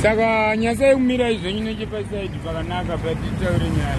saka nyasai kumirai zvenyu nechepasaidi pakanaka patitaure nyaya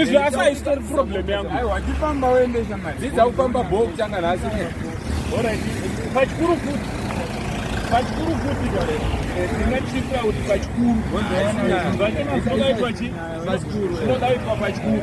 izvi asi haisitori problem yangu aiwa chifamba woendesa mari dzidza kufamba bho kutanga nhasi pachikuru futi pachikuru futi ndingatisitira kuti pachikuru pachikuru pachikuru